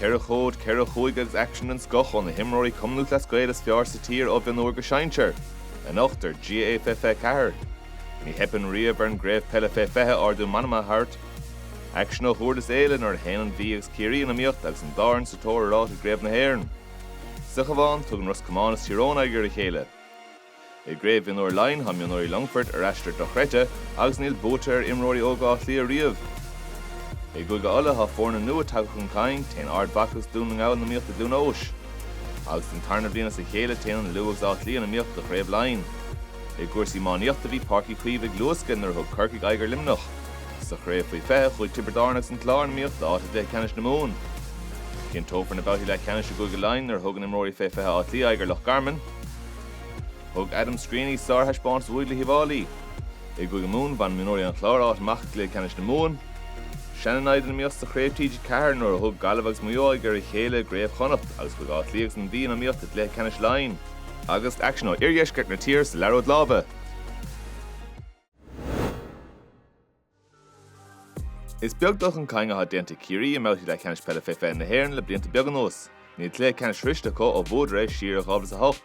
Ceithre chód, ceithre chúige agus aicsean den scoth ó na himreoirí Cumann Lúthchleas Gael is fearr sa tír ó mhionúr go sinsear. Anocht ar GAA 2024, Ní theipeann riamh ar an gcraobh peile fé 20 ardú meanma a thabhairt, Aicsean ó Dhurlas Éile nuair a théann an Mhí agus Ciarraí in iomaíocht agus an dá fhoireann sa tóir ar áit i gCraobh na hÉireann. Sa Chabhán, tugann Ros Comáin is Tír Eoghain aghaidh ar a chéile. I gCraobh Mhionúir Laighean tá mionúirí Longfoirt ar aistear dochreidte agus níl buaite ar imreoirí óga Átha Cliath riamh. I gCúige Uladh tá foirne nua tagtha chun cinn, téann Ard Mhacha agus Dún na nGall in iomaíocht i gCluain Eois. Agus den tarna bhliain as a chéile téann an Lú agus Áth Cliath in iomaíocht do Chraobh Laighean. I gcúrsaí iománaíochta bhí Páirc Uí Chaoimh ag luascadh nuair a thug Corcaigh aghaidh ar Luimneach. Sa Chraobh Faoi 20, chuaigh Tiobraid Árann agus an Clár in iomaíocht d'áit i gcluiche ceannais na Mumhan. Cinnteofar na babhtaí leathcheannais i gCúige Laighean nuair a thugann imreoirí Fé 20 Átha Cliath aghaidh ar Loch Garman. Thug Adam Screeney sárthaispeántas uaidh le hUíbh Fháilí. I gCúige Mumhan, bhain mionúirí an Chláir áit amach i gcluiche ceannais na Mumhan. Seana-naimhde in iomaíocht sa Chraobh TG4 nuair a thug Gaillimh agus Maigh Eo aghaidh ar a chéile i gCraobh Chonnacht agus chuaigh Áth Cliath agus an Mhí in iomaíocht i gcluiche ceannais Laighean. Agus aicsean ó iardheisceart na tíre sa liathróid láimhe, Is beag dul chun cinn atá déanta ag Ciarraí i mbabhtaí leathcheannais peile fé 20 na hÉireann le blianta beaga anuas. Níl cluiche ceannais sroiste acu ó bhuadar é siar i 2008.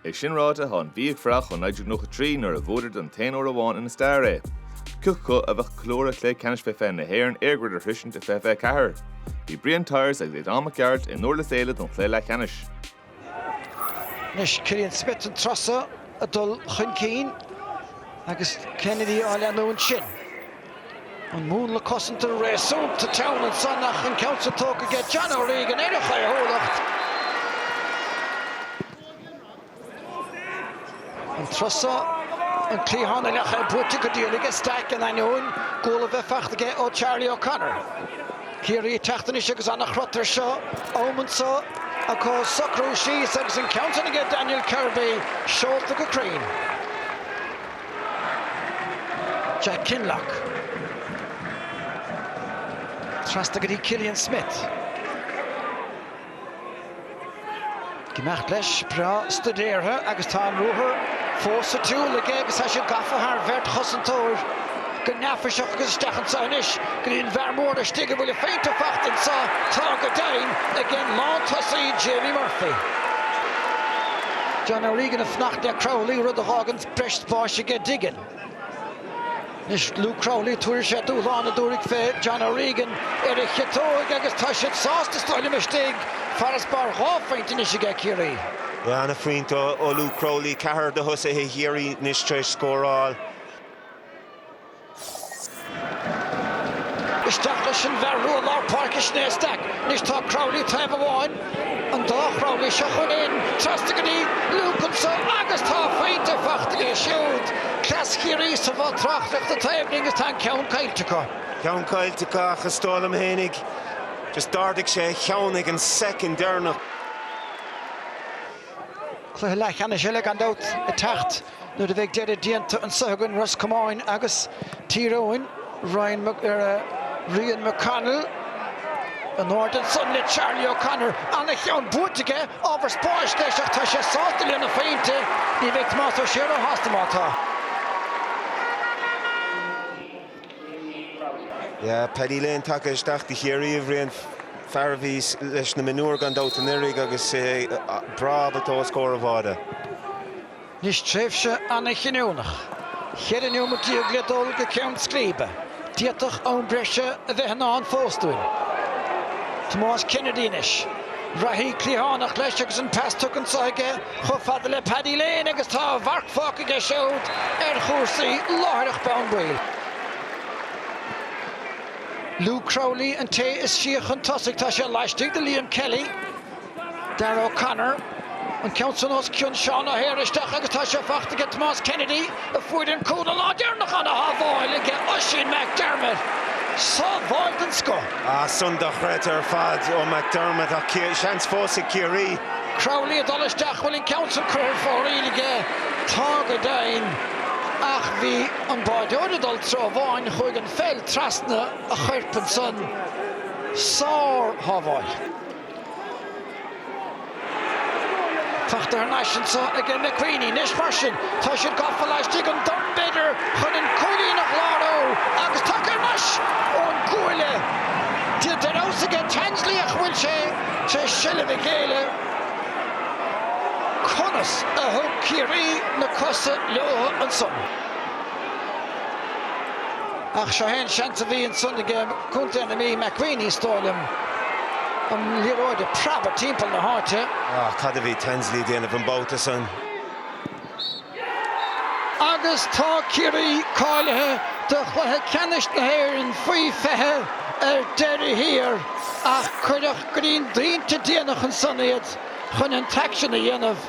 É sin ráite, tá an Mhí ag fuireach ó 1993 nuair a bhuadar don t-aon uair amháin ina stair é. Cé acu a bheadh ag ceiliúradh cluiche ceannais fé 20 na hÉireann EirGrid a shroisint i 2024. Bhí Brian Tyers agus Aodhán Mac Gearailt i nDurlas Éile don chluiche leathcheannais. Anois Killian Smyth an turas so ag dul chun cinn agus Kennedy á leanúint sin. An múnla cosanta réasúnta teann ansan ach an ceann seo tógtha aige John O'Regan ar a chaothúlacht. An turas so, an cliathán a ndeachaigh buailte go dian aige Stack in ainneoin guala a bheith faighte aige ó Charlie O'Connor. Ciarraí ag teacht anois agus an-chrot air seo, am anseo acu socrú síos agus an ceann sin aige Daniel Kirby seolta go cruinn. Jack Kinlough. Trasna go dtí Killian Smyth. Ag imeacht leis breá stuidéartha agus tá an ruathar fós sa tsiúl aige agus tá sé gafa thar bheirt chosantóir go neafaiseach agus isteach anseo anois go dtí an bhfear mór laistigh an bhfuil a phointe fachta anseo tá go deimhin ag an lántosaí Jamie Murphy. John O'Regan ag fanacht le Crowley, rud a fhágann breis spáis aige Diggin. Anois Luke Crowley, tabharfaidh sé dúshlán tabharfaidh faoi John O'Regan ar a chiotóig agus tá siad sásta sna Uilliam istigh, farasbarr dhá phointe anois aige Ciarraí. Ana-phointe ó Luke Crowley, ceathrar de thosaithe Chiarraí anois tar éis scóráil. Isteach leis an bhfear rua lár páirce sin é Stack anois tá Crowley taobh amháin, an dá Chrowley seo chugainn trasna go dtí Luke anseo agus tá pointe faighte aige siúd. Cleas Chiarraí sa bhoth tráchtaireachta taobh linn agus tá an ceann caillte acu. Ceann caillte acu ach is dóigh liom fhéinig just d'ardaigh sé a cheann ag an soicind deireanach. Cluiche leathcheannais eile gan dabht ag teacht nuair a bheidh deireadh déanta anseo againn, Ros Comáin agus Tír Eoghain. Rian McConnell in airde ansan le Charlie O'Connor. An-cheann buaite aige, ábhar spáis leis ach tá sé sásta lena phointe. Ní bheidh Tomás Ó Sé ró-shásta má tá. Paddy Lane tagtha isteach do Chiarraí a Bhriain, fear a bhí leis na mionúir gan dabht anuraidh agus é breá ábalta os comhair an bháide. Anois tréimhse an-chinniúnach, cheithre neomat déag le dul go ceann scríbe. D'fhéadfadh am breise a bheith i ndán fós dúinn. Tomás Kennedy anois. Reathaí cliathánach leis agus an pas tugtha anseo aige. chomh fada le Paddy Lane agus tá a mharc fágtha aige siúd ar chúrsaí láithreach bonn. Baol. Luke Crowley an té is sia chun tosaigh, tá sé laistigh de Liam Kelly. Darragh O'Connor an ceann san os cionn Seán O'Hare isteach agus tá sé faighte aige Tomás Kennedy. Fuair an cúl an lá deireanach ana shábháil aige Oisín McDermott sábháil den scoth. Ah, sin dochreidte ar fad ó McDermott ach seans fós ag Ciarraí. Crowley ag dul isteach, bhfuil an ceann san curtha ar fóraoil aige? Tá go deimhin ach bhí an báireoir ag dul treo amháin, chuaigh an pheil trasna a choirp ansan. Sár shábháil. Faighte thar n-ais anseo aige McWeeney, anois mar sin tá siad gafa laistigh an dorn b'fhéidir chun an cúilín a chlárú agus tagtha thar n-ais ón gcuaille déanta ar fheabhas aige Tansley ach an bhfuil sé tar éis seilbh a ghéilleadh. Conas a thug Ciarraí na cosa leobhtha ansan? Ach seo é an seans a bhí ansan aige Co. na Mí, McWeeney, is dóigh liom, an liathróid ag preabadh timpeall na háite. Ach cad a bhí Tansley ag déanamh an babhta san? Agus tá Ciarraí cáilithe do chluiche ceannais na hÉireann faoi 20 ar deireadh thiar ach cuireadh greim dainta déanach ansan iad chun an t-aicsean a dhéanamh.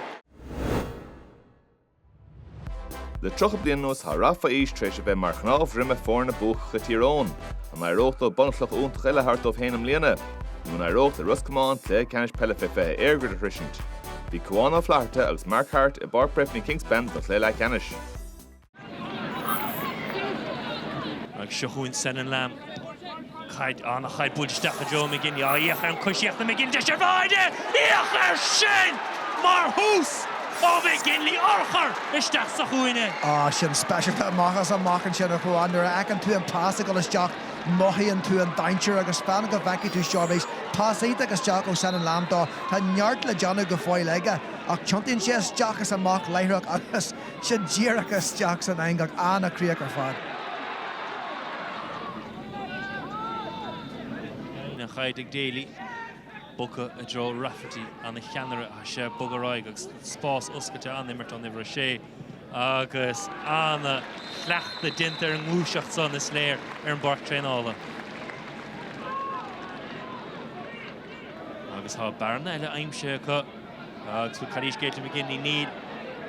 Le 30 bliain anuas tá rath fé aois tar éis a bheith mar chnámh droma foirne buacacha Thír Eoghain. An éireoidh leo bunchloch iontach eile a thabhairt dóibh féin i mbliana? Nó an éireoidh le Ros Comáin cluiche ceannais peile fé 20 EirGrid a shroisint? Bhí Cuán Ó Flatharta agus Mark Harte i bPáirc Breffni Kingspan don chluiche leathcheannais. Ag seo chugainn Senan Lambe. Caid an chaid buailte isteach go dtí McGinley á féach ar an gcoisíocht ag McGinley, deis ar bháide, féach air sin! Mar thús ó McGinley, urchar isteach sa chúinne. Á, sin speisialta amach is amach ansin, a Chuáin. Nuair a fheiceann tú an pas ag dul isteach, mothaíonn tú an dainséar agus fan go bhfeicfidh tú seo arís. Pas iontach isteach ó Senan Lambe dó. Tá neart le déanamh go fóill aige, ach tiontaíonn sé isteach is amach láithreach agus, sin díreach isteach san eangach an-chríoch ar fad. An chaid ag Daly, bogtha i dtreo Rafferty, an-cheannaire, tá sé ag bogadh ar aghaidh agus spás oscailte, an-imirt ón uimhir 6 agus an-chleachtadh déanta ar an ngluaiseacht san, is léir, ar an bpáirc traenála. Agus tá bearna eile aimsithe acu. Agus bhfuil cairéis Caitlin McGinley, níl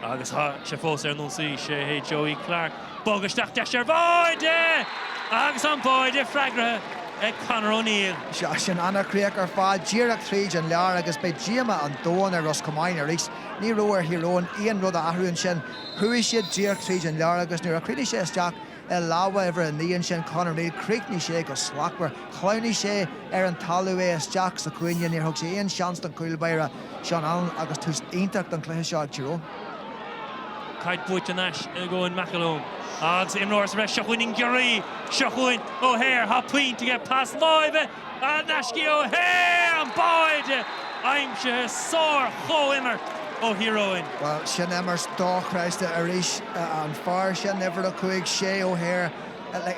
agus tá sé fós ar an ionsaí, sé hé Joey Clarke, bog isteach, deis ar bháide! Agus an báide freagartha ag Conor O'Neill. Sea, sin ana chríoch ar fad, díreach tríd an lár agus beidh díoma an domhain ar Ros Comáin arís. Ní raibh ar Thír Eoghain aon rud a athrú ansin. Chuaigh siad díreach tríd an lár agus nuair a chríochnaigh sé isteach, I lámha uimhir a naoi ansin, Conor O'Neill, chríochnaigh sé go slachtmhar. Shleamhnaigh sé ar an talamh, é isteach sa chúinne. Níor thug sé aon seans don chúl báire, Seán Allen agus tús iontach don chluiche seo ag Tír Eoghain. Caid buaite thar n-ais ag Eoin McElholm agus imreoir sa bhreis. Seo chugainn an giorria, seo chugainn O'Hare, tá pointe aige, pas láimhe! N-ais go O'Hare, an báide aimsithe, sár-chomhimirt ó Thír Eoghain. Bhuel, sin imirt dochreidte arís. An fear sin, uimhir a cúig, Shea O'Hare,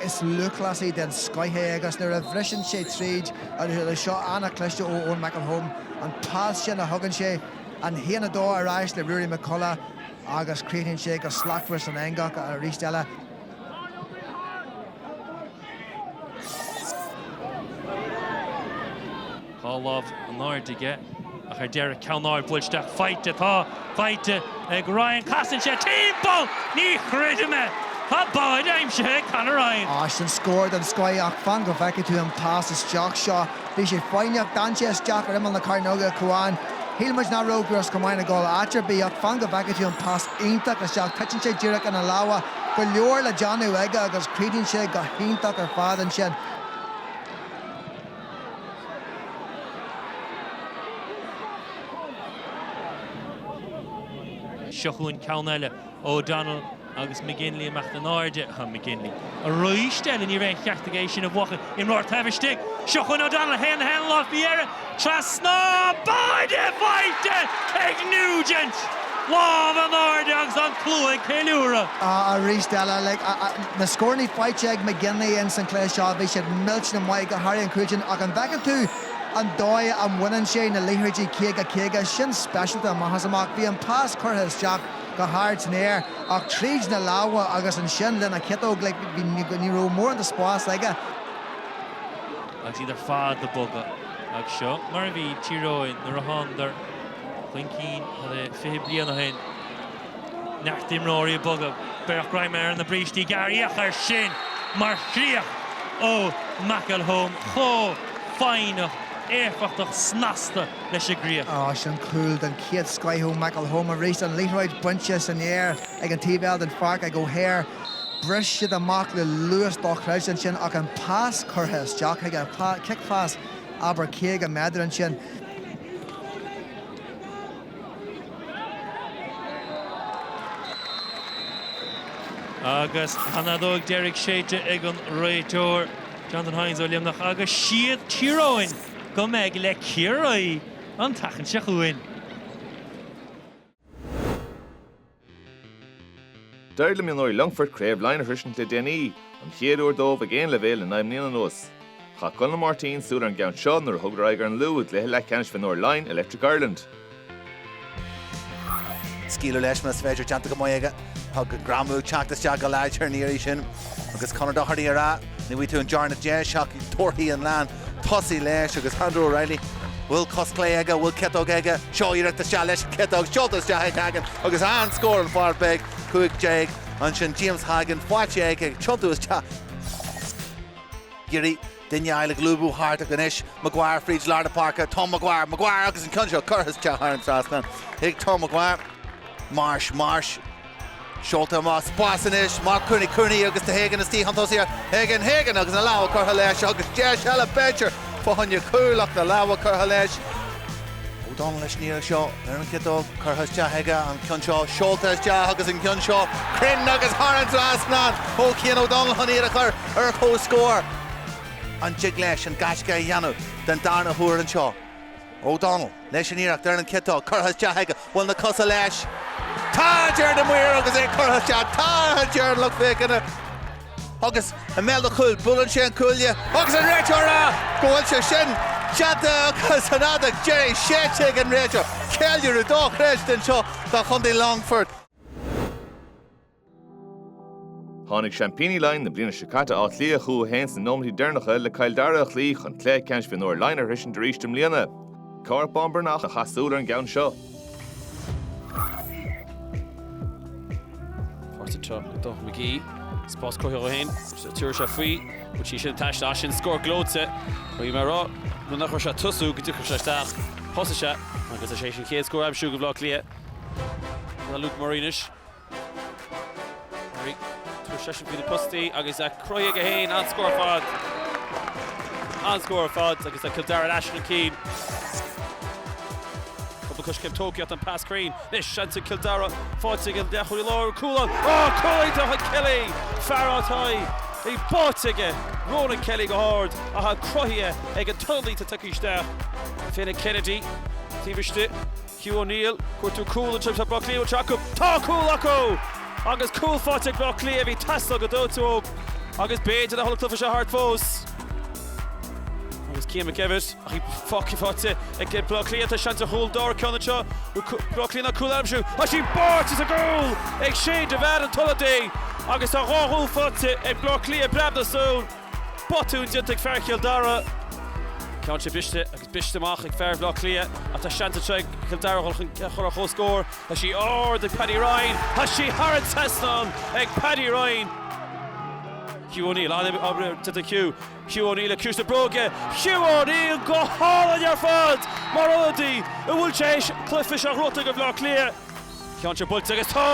is lúthchleasaí den scoith é agus nuair a bhriseann sé tríd, seo an-chliste ó Eoin McElholm, an pas sin a thugann sé, an haon a dó ar ais le Ruairí McCullagh agus críochnaíonn sé go slachtmhar san eangach arís eile. Dhá lámh in airde aige ach ar deireadh ceann ard buailte isteach faighte tá faighte ag Ryan casann sé timpeall ní chreidim é Tá báide aimsithe ag Conor Ryan. Á sin scór den scoth ach fan go bhfeicfidh tú an pas isteach seo. Bhí sé foighneach, d'fhan sé isteach ar imeall na cearnóige, a Chuáin. Shíl muid nach raibh Ros Comáin ag dul áit ar bith ach fan go bhfeicfidh tú an pas iontach isteach titeann sé díreach ina lámha. go leor le déanamh aige agus creideann sé go hiontach ar fad ansin. Seo chugainn ceann eile, O'Donnell agus McGinley amach in airde. McGinley arís eile, ní raibh an ceart aige é sin a bhuachan. Imreoir taobh istigh. Seo chugainn O'Donnell, a haon a haon láimh faoi dheireadh. Trasna báide faighte ag Nugent! Lámh in airde agus an tslua ag ceiliúradh. Arís eile, na scórannaí faighte ag McGinley ins an cluiche seo. Bhí siad millteanach maith, go háirithe an cúilín, ach an bhfeiceann tú an dóigh a mbaineann sé na liathróidí caoga, caoga sin speisialta amach is amach. Bhí an pas curtha isteach go hard san aer ach tríd na lámha agus ansin lena chiotóg, like, ní raibh mórán de spás aige. agus iad ar fad ag bogadh. Agus seo mar a bhí Tír Eoghain nuair a thánadar chun cinn le 20 bliain ó shin. Neart imreoirí ag bogadh, beagnach greim ar na brístí gearra. Féach air sin mar chríoch ó McElholm chomh foighneach, éifeachtach, snasta leis an gcríoch. Ach sin cúl den chéad scoith ó McElholm arís, an liathróid bainte san aer ag an taobh eile den pháirc ag O'Hare. Bhris siad amach le luas dochreidte ansin ach an pas curtha isteach aige, cicphas abair 50 méadar ansin. Agus an fheadóg deiridh séidte ag an réiteoir, Jonathan Hayes ó Luimneach, agus is iad Tír Eoghain go mbeidh le Ciarraí an tseachtain seo chugainn. D'éirigh le mionúir Longfoirt Craobh Laighean a shroisint le déanaí, an chéad uair dóibh ag aon leibhéal le naoi mbliana anuas. Chaith Conall Máirtín súil ar an gceann seo nuair a thugadar aghaidh ar an Lú i gcluiche leathcheannais mhionúir Laighean, Electric Ireland. Scaoileadh leis más féidir, déanta go maith aige. Tá an greamú ag teacht isteach go láidir an iarraidh sin agus Conor Doherty ar ais. Ní bhfaighidh tú an darna deis ach torthaí an lean. Tosaigh leis agus Andrew Reilly, bhfuil cos chlé aige, a bhfuil ciotóg aige, seo iarracht isteach leis an chiotóg, seolta isteach ag Hagan agus an-scór an fear beag 15 ansin James Hagan faighte aige ag tiontú isteach an iarraidh sin. Duine eile ag lúbadh thart acu anois, Maguire fríd lár na páirce, Tom Maguire, Maguire agus an ceann seo curtha isteach thar an trasnán ag Tom Maguire, Marsh, Marsh, Seolta amach sa spás anois, Mark Cooney, Cooney agus tá Hagan istigh chun tosaigh, Hagan, Hagan agus na lámha curtha leis agus deis eile b'fhéidir, fá choinne cúil ach na lámha curtha leis. O'Donnell leis an iarraidh seo ar an chiotóg, curtha isteach aige an ceann seo, seolta isteach agus an ceann seo cruinn agus thar an trasnán ó Chian O'Donnell chun iad a chur ar comhscór. An dtig leis an gaisce a dhéanamh den darna huair anseo? O'Donnell leis an iarracht ar an gciotóg, curtha isteach aige, bhfuil na cosa leis. Tá a deir na maoir agus é curtha isteach, tá a deir an lucht féachana. Agus i mbéal an chúil, buaileann sé an cuaille agus an réiteoir ag rá go bhfuil sé sin déanta agus an fheadóg dheiridh séidte ag an réiteoir. Ceiliúradh dóchreidte anseo do Chontae Longfort. Tháinig seaimpíní Laighean na bliana seo caite, Áth Cliath, chucu féin sna nóiméintí deireanacha le Cill Dara a chloí chun cluiche ceannais Mhionúir Laighean a shroisint arís i mbliana. Cárthach Bán Breathnach a chaith súil ar an gceann seo. Páirt sa trácht ag Donnchadh Magee. Spás cruthaithe dó féin. Tiúrfaidh sé faoi. Bhain sí sin an taisle as sin. Scór gleoite. Bhí mé ag rá nuair nach raibh sé ag tosú go dtiocfadh sé isteach. Thosaigh sé agus is é sin an chéad scór aimsithe ag Baile Átha Cliath. Tá Luke Murray anois. Tabharfaidh seisean faoi na postaí agus cruthaíodh é féin an-scór ar fad. An-scór ar fad agus le Cill Dara ar ais chun cinn. Cúpla coiscéim tógtha tá an pas cruinn. Anois seans ag Cill Dara. Faighte ag an leath chuig lár an cúl ann. Ó, cúlaítear chuig Kelly! Fear átáí ag báite aige. Ronan Kelly go hard ach an cruthaíodh ag an tuirlingte tugtha isteach. Finn Kennedy taobh istigh. Hugh O'Neill, cuartú cúl an trip, tá Baile Átha Cliath uait acu, tá cúl acu! Agus cúl faighte ag Baile Átha Cliath, bhí teastáil go dóite uathu agus b'fhéidir nach bhfuil an cluiche seo thart fós. Agus Cian McKevitt, ach í foci faighte ag Baile Átha Cliath, tá seans ar chúl dár ceanna seo, Baile Átha Cliath an cúl aimsithe, tá sí báite sa gcúl ag Shane Devane an t-ionadaí agus tá dhá chúl faighte ag Baile Átha Cliath i bpreab na súl. Botún déanta ag fear Chill Dara. Ceann sé briste agus briste amach ag fear Bhaile Átha Cliath ach tá seans anseo ag Cill Dara dhul chun cinn a chur ar chomhscór. Tá sí ard ag Paddy Ryan. Tá sí thar an trasnán ag Paddy Ryan. Hugh O'Neill, an-obair déanta ag Hugh. Hugh O'Neill le ciumhais na bróige. Hugh O'Neill go hálainn ar fad mar ionadaí an bhfuil sé théis cluiche seo ghorta ag Baile Átha Cliath. Ceann sé buailte agus tá!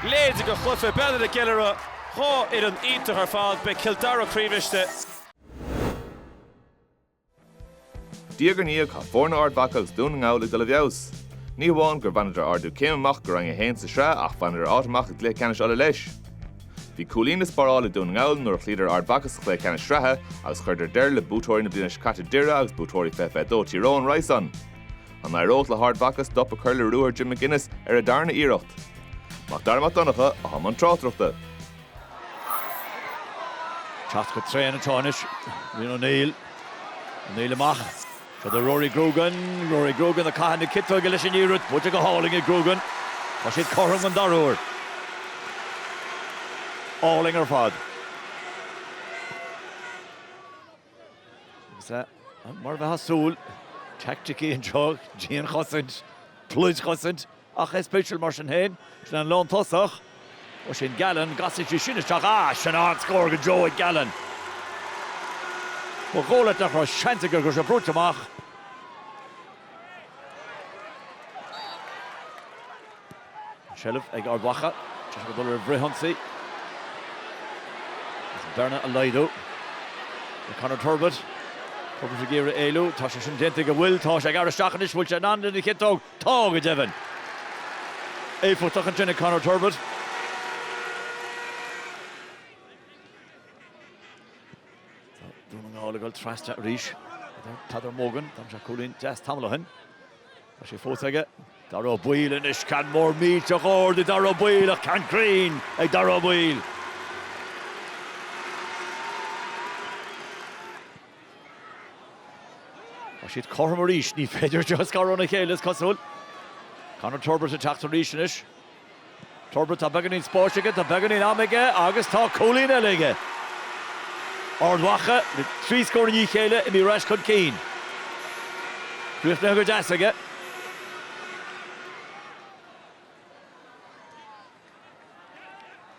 Léidigh go chluiche bealaí na gceiliúradh. Dhá fhoireann iontach ar fad, beidh Cill Dara croíbhriste. Diaidh ar ndiaidh tá foirne Ard Mhacha agus Dún na nGall ag dul i bhfeabhas. Ní hamháin gur bhaineadar ardú céime amach go Roinn 1 sa tSraith ach bhaineadar áit amach i gCluiche Ceannais Uladh leis. Bhí cúilín le spáráil ag Dún na nGall nuair a chloíodar Ard Mhacha sa chluiche ceannais sraithe agus chuireadar deireadh le buaiteoirí na bliana seo caite Doire agus buaiteoirí 2022 Tír Eoghain roimhe sin An n-éireodh le hArd Mhacha stop a chur le ruathar Jim McGuinness ar a dtarna iarracht? Macdara Mac Donncha, i mbun tráchtaireachta. Teacht go tréan atá anois Rian O'Neill. O'Neill amach. Tugtha do Rory Grugan. Rory Grugan ag caitheamh na ciotóige leis an iarracht. Buailte go hálainn ag Grugan. Tá siad cothrom an dara huair. Álainn ar fad. Agus mar a bheadh súil, teaicticí anseo, dian-chosaint, pluid-chosaint, ach is spéisiúil mar sin féin, sin an lántosach, Oisín Gallen, an gcasfaidh sé sin isteach, ah, sin an-scór go deo ag Gallen. Ba dhóigh leat nach raibh seans aige agus é brúite amach. An tseilbh ag Ard Mhacha. Deis acu dul ar fhrithionsaí. Is bearna a laghdú ag Conor Turbitt. Turbitt ag iarraidh éalú. Tá sé sin déanta go bhfuil. Tá sé ag teacht isteach anois. Bhfuil sé in ann den chiotóg? Tá, go deimhin. Éifeachtach ansin ag Conor Turbitt. Tá Dún na nGall ag dul trasna arís. Peadar Mogan, d'aimsigh cúilín deas tamall ó shin. Tá sé fós aige. Dáire Ó Baoill anois, ceann mór millteach ard ag Dáire Ó Baoill ach ceann cruinn ag Dáire Ó Baoill. Tá siad cothrom arís, ní féidir iad a scaradh óna chéile, is cosúil. Conor Turbitt ag teacht arís anois. Turbitt, Tá beagáinín spáis aige, tá beagáinín ama aige agus tá cúilín eile aige. Ard Mhacha le trí scór i ndiaidh a chéile imithe ar ais chun cinn. Críochnaithe go deas aige.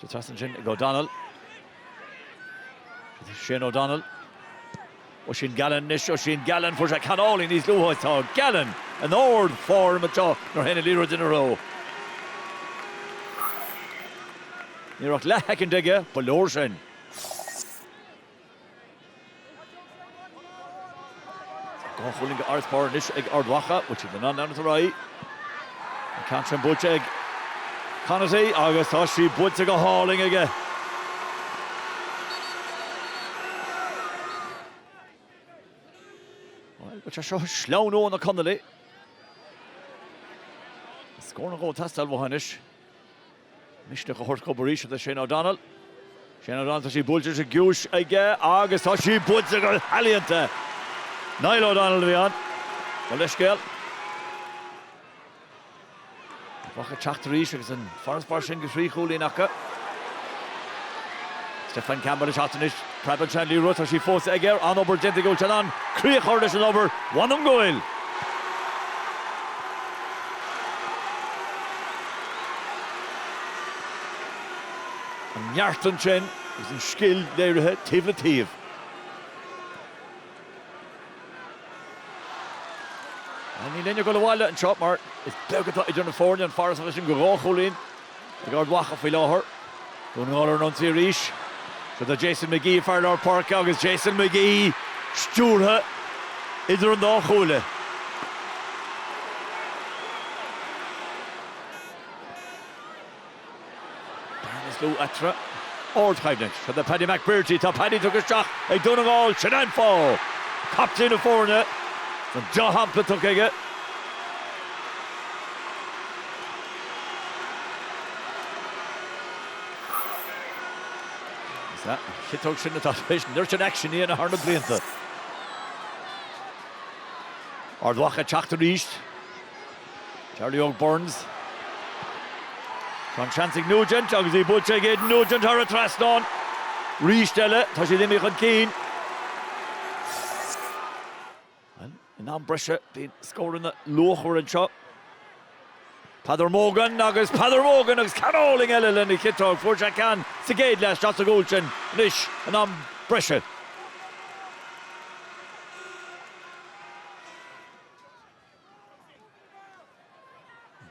Tá trasna ansin ag O'Donnell. Shane O'Donnell. Oisín Gallen anois, Oisín Gallen, fuair sé ceann álainn níos luaithe tá Gallen in ardfhoirm anseo nuair a théann an liathróid ina threo. Ní raibh ach leathshoicind aige, ba leor sin. Dhá chúilín de fharasbarr anois ag Ard Mhacha, bhfuil siad in ann leanúint ar aghaidh. An ceann sin buailte ag Conaty agus tá sí buailte go hálainn aige. Bhuel, tá seo ag sleamhnú ó na Conallaigh. Scór nó dhó ag teastáil uathu anois. Misneach a thabhairt dhóibh arís do Shane O'Donnell. Shane O'Donnell, tá sí buailte as an gciumhais aige agus tá sí buailte go healaíonta! Niall O'Donnell a bhí ann. Mo leithscéal. Ard Mhacha ag teacht arís agus an farasbarr sin de thrí chúilín acu. Stefan Campbell ag teacht anois. Preabann sé an liathróid tá sí fós aige ar an-obair déanta aige bhfuil sé in ann críoch a chur leis an obair, mh'anam go bhfuil. An neart ansin agus an scil léirithe taobh le taobh. Ach níl éinne ag dul abhaile anseo mar is beag atá idir na foirne, an farasbarr sin de dhá chúilín. Ag Ard Mhacha faoi láthair. Dún na nGall ar an ionsaí arís. Siod é Jason McGee, fear lár páirce agus Jason McGee í stiúrtha idir an dá chuaille. Bearna is lú eatarthu. Ardchoimhlint. Siod é Paddy McBrearty. Tá Paddy tugtha isteach ag Dún na nGall. Sin é an fáth! Captaen na foirne. An deá-shampla tugtha aige. Is é an chiotóg sin atá tar éis neart an aicsin a dhéanamh thar na blianta. Ard Mhacha ag teacht arís. Charlie Óg Burns. Tá an seans ag Nugent agus í buailte ag Aidan Nugent thar an trasnán. Arís eile, tá siad imithe chun cinn. In am breise bhí an scór ina luachmhar anseo. Peadar Mogan agus Peadar Mogan agus ceann álainn eile lena chiotóg. Fuair sé ceann sa gcéad leath isteach sa gcúl sin anois in am breise.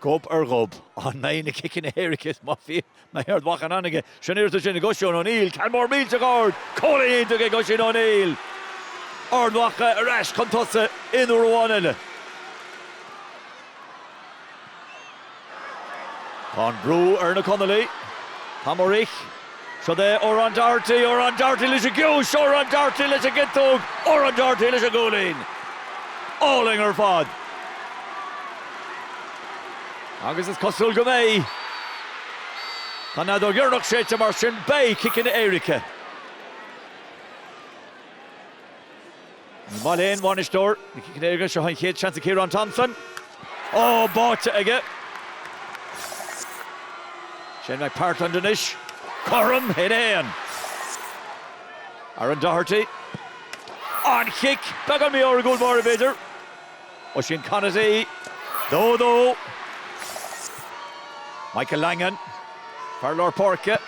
Gob ar ghob, an mbeidh na ciceanna éirice mar a bhí fir Ard Mhacha in ann aige? Sin iarracht ansin ag Oisín O'Neill, ceann mór millteach ard, cúilín iontach ag Oisín O'Neill, Ard Mhacha ar ais chun tosa aon uair amháin eile. Tá an brú ar na Conallaigh, tá muid arís. Siod é Odhrán Doherty, Odhrán Doherty leis an gcúis, Odhrán Doherty leis an gciotóg, Odhrán Doherty leis an gcúilín. Álainn ar fad. Agus is cosúil go mbeidh. Tá an fheadóg dheireanach séidte mar sin beidh ciceanna éirice. Ní maith le aon bhainisteoir na ciceanna éirice, seo an chéad seans ag Ciarán Thompson. Ó, báite aige. Shane McPartland anois. Cothrom in aon. Aaron Doherty. An chic! Beagán mí-ádhúil báire, b'fhéidir. Oisín Conaty, 2-2. Michael Langan, fear lár páirce,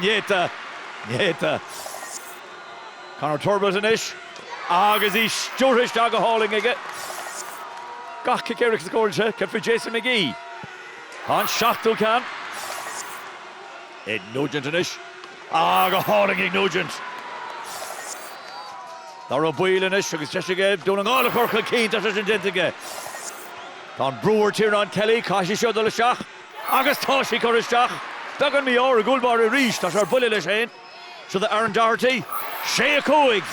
néata, néata. Conor Turbitt anois agus í stiúrtha isteach go hálainn aige. Gach cic éirice scóráilte. Céard faoi Jason McGee. Tá an seachtú ceann ag Nugent anois. Ó go hálainn ag Nugent. Dáire Ó Baoill anois agus deis aige Dún na nGall a chur chun cinn, tá sé sin déanta aige. Tá an brú ar Tiernan Kelly, caithfidh sí seo dul isteach. Agus tá sí curtha isteach. Beagán mí-ádh ar an gcúl báire arís. Tá sé ar buile leis féin. Seo do Aaron Doherty. Sé a cúig.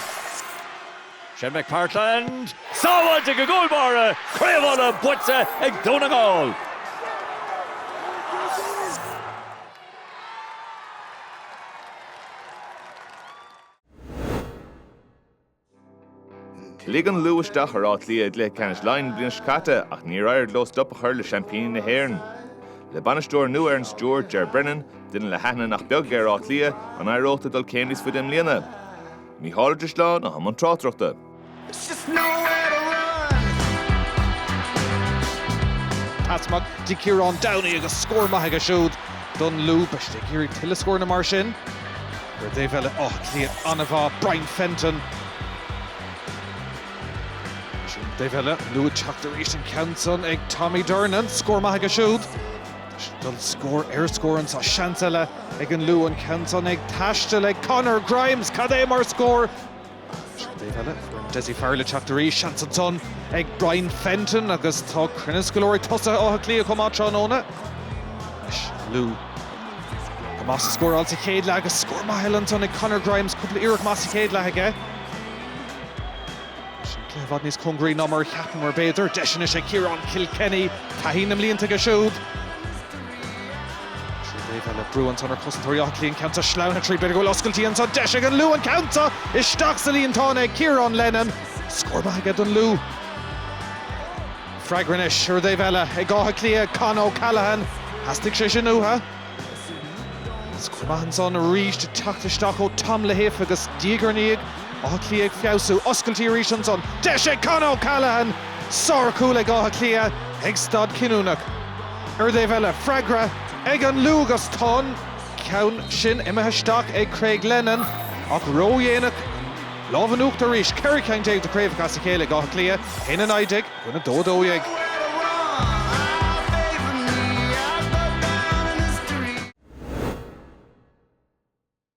Shane McPartlan. Sábháilte ag an gcúl báire! Craobh Uladh buaite ag Dún na nGall! Luigh an Lú isteach ar Áth Cliath i gcluiche ceannais Laighean an bhliain seo caite ach níor éirigh leo stop a chur le seaimpíní na hÉireann. Le bainisteoir nua ar an stiúir, Ger Brennan, duine le haithne nach beag ar Áth Cliath, an éireodh leo dul céim níos faide i mbliana? Mícheál Ó Drisleáin atá i mbun tráchtaireachta. Pas maith do Ciarán Downey agus scór maith aige siúd don Lú. Beidh siad ag iarraidh tuilleadh scóranna mar sin. Ar an taobh eile Áth Cliath an-mhaith, Brian Fenton. An taobh eile, an Lú ag teacht arís an ceann san ag Tommy Durnin, scór maith aige siúd. Dul scór ar scór anso, seans eile ag an Lú an ceann san ag taisteal ag Conor Grimes, cad é mar scór! Ar an taobh eile, foireann Dessie Farrell ag teacht arís. Seans ansan ag Brian Fenton agus tá cruinneas go leor ag tosaithe Átha Cliath chomh maith tráthnóna. Anois Lú go maith sa scóráil sa chéad leath agus scór maith eile ansan ag Conor Grimes, cúpla iarracht maith sa chéad leath aige. Sin cluiche i bhfad níos cóngaraí ná mar a cheapamar b'fhéidir. Deis anois ag Ciarán Kilkenny, taithí na mblianta aige siúd. Ar an dtaobh eile, brú ansan ar chosantóirí Átha Cliath an ceann san sleamhnaithe tríd, b'fhéidir go bhfuil oscailtí anso, deis ag an Lú an ceann san isteach sa líontán ag Ciarán Lennon. Scór maith aige don Lú. Freagra anois ar an dtaobh eile ag Áth Cliath, Con O'Callaghan. Theastaigh sé sin uathu. Scór maith ansan arís ag teacht isteach ó Tom Lahiff agus diaidh ar ndiaidh, Áth Cliath ag feabhsú. Oscailtí arís ansan, deis ag Con O'Callaghan! Sárchúl ag Áth Cliath ag staid chinniúnach. Ar an dtaobh eile, freagra ag an Lú agus, tá an ceann sin imithe isteach ag Craig Lennon ach ró-dhéanach lámh in uachtar arís, 14 ceann de chraobhacha as a chéile ag Áth Cliath, 1 19 i gcoinne 2 12.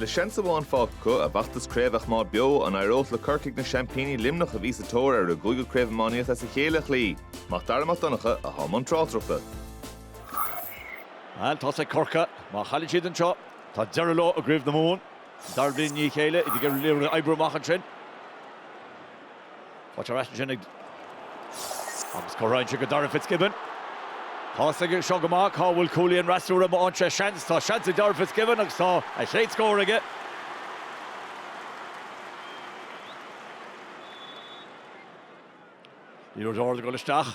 Le seans amháin fágtha acu a bhfeachtas craoibhe a choimeád beo, an éireodh le Corcaigh na seaimpíní Luimneach a bhí sa tóir ar a gcúigiú craobh iománaíochta as a chéile a chloí? Mac Dara Mac Donncha atá i mbun tráchtaireachta. Tá a fhios ag Corcaigh, má chailleann siad anseo, tá deireadh leo i gCraobh na Mumhan. An dara bliain i ndiaidh a chéile iad ag iarraidh oibriú amach ansin. Faighte ar ais ansin ag agus cuireann sé go Darragh Fitzgibbon. Tá a fhios aige seo go maith, cá bhfuil cuaillí an fhreasúra má fhaigheann sé seans, tá seans ag Darragh Fitzgibbon agus tá a chéad scór aige. Ní raibh deá ag dul isteach.